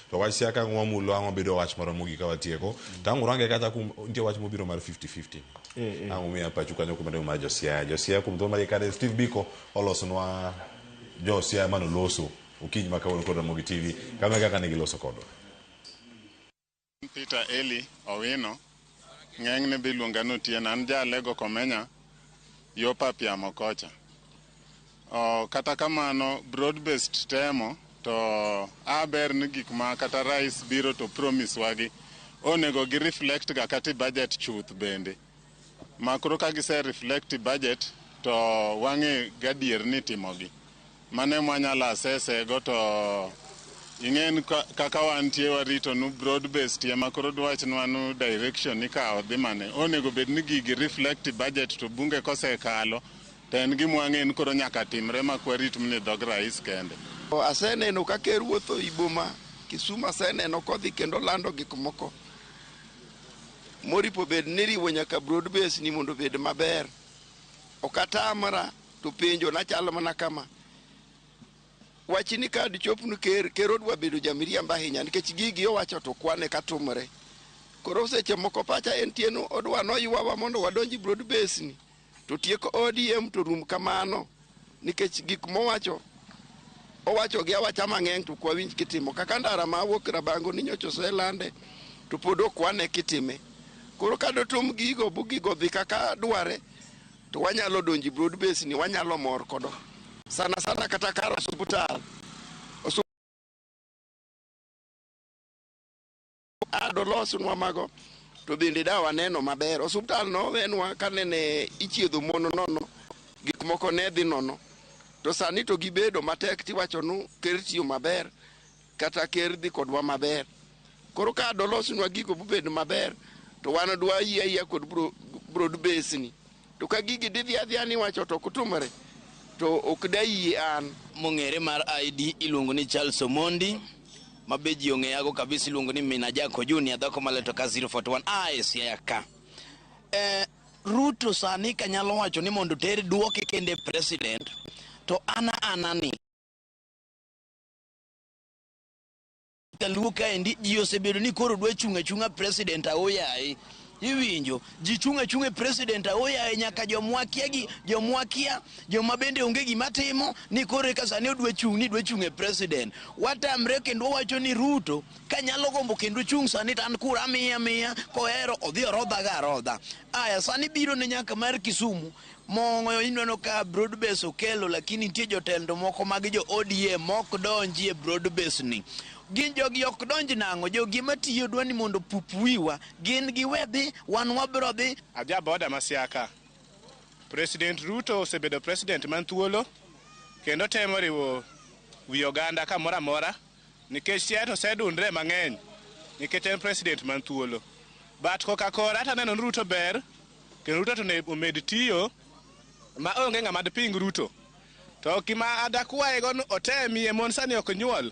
To wach siasa ka wamulo ang'o bedo wach moro mogik ka watieko. To ang' urange kacha kum nitie wach mobiro mar 50-50. Eh, eh. Ang' umiya pachu kanyo kuma mar Josiaya. Josiaya kuom thuolo mar kare Steve Biko olosonwa Josiaya mano loso okinyi ma kawuono kod Ramogi TV kama kaka ne giloso kodwa. An Peter Elly Owino, ng'enyne be iluonga ni Otieno. An ja Alego Komenya, yo Papiamo kocha. Oh, kata kamano, broad based temo to a ber ni gik ma kata rais biro to promise wagi onego gi reflect ga kata e budget chuth bende. ma koro ka gise reflect budget to wang'e gadier ni timogi. Mano ema wanyalo asese go to ing'e ni ka- kaka wantie warito nu broad based ema koro dwachnwa nu direction ikawo dhi mane. Onego bed ni gigi reflect budget to bunge kosekalo to en gima wang'e ni koro nyaka timre ma kwa rit mni dhog rais kende. O, Aseneno ka ker wuotho i boma Kisumu, aseneno kodhi kendo lando gik moko. moripo bed ni riwo nyaka broad base ni mondo obed maber. Ok atamra to penjo na chalo mana kama. Wachi ni kad chopnu ker, ker odwa bedo jamiriamba ahinya nikech gigi owacho to kwane katumre. Koro seche moko pacha en tieno odwa noywawa mondo wadonji broad base ni. To tieko ODM to rum kamano nikech gik mowacho owacho gi awacha mang'eny to kwawinj kitimo kaka ndara ma wuok Rabango ni nyocha oselande to pod ok wane kitime. Koro ka dotum gigo bu gigo dhi kaka dware to wanyalo donjo e broad base ni wanyalo mor kodo sana sana kata kar osuptal adolosnwa mago to bende da waneno maber osuptal nowenwa kanene ichiedho mon nono gik moko ne dhi nono to sani to gibedo matek tiwacho nu ker tiyo maber kata ker dhi kodwa maber koro ka dolosnwa gigo bubed maber to wan dwa yie ayia kod bro- broad base ni To ka gigi didhi adhiya ni wacho to ok tumre to ok dayie an. Mong'ere mar ID iluongo ni Charles Omondi ma be ji ong'eyago kabisa iluongo ni Mina Jako Junior dhako maleto ka 041 a e Siaya ka. Eh, Ruto sani kanyalo wacho ni mondo ter duoke kende president to ana ana ni kaluo kaendi ji osebedo ni koro dwa chung' achung'a president aoyaye iwinjo ji chung' achung'a e president aoyaye nyaka jomwakia gi jomwakia joma bende onge gima timo ni koro eka sani odwa chung' ni dwa chung' e president watamre kendo wawacho ni ruto kanyalo gombo kendo chung' sani to an kura miya miya kohero odhi orodhaga arodha aya sani biro ne nyaka mar kisumu Mong'oyo ineno ka broad base okelo lakini nitie jotendo moko mag jo ODM mok donji e broad base ni. Gin jogi ok donj nang'o jogi matiyo dwa ni mondo pup wiwa gin gi wedhi wan wabro dhi. Aja boda masiaka. President Ruto osebedo president man thuolo kendo temo riwo wi oganda kamora mora. Nikech chiaye to osedundre mang'eny nikech en president man thuolo. But koka kora to aneno ni Ruto ber kendo Ruto to onego omed tiyo ma onge ng'ama diping Ruto. To gima adakwayego ni otemie mon sani ok nyuol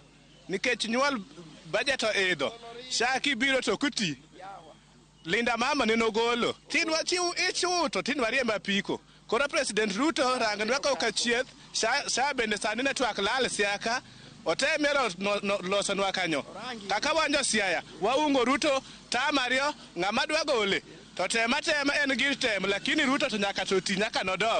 nikech nyuol budget oidho. SHA kibiro to ok iti. Linda mama ne nogolo. Tin wachiw ich uto tin wariemb apiko. Koro President Ruto rang nwa koka chieth, sha, sha bende sani ne twak lal siaka, otemie lo- no- no- loso nwa kanyo. Kaka wanjo siaya, waungo Ruto tam ariyo, ng'ama dwa gole. To tem atema en gir tem, lakini Ruto to nyaka to ti nyaka nodog.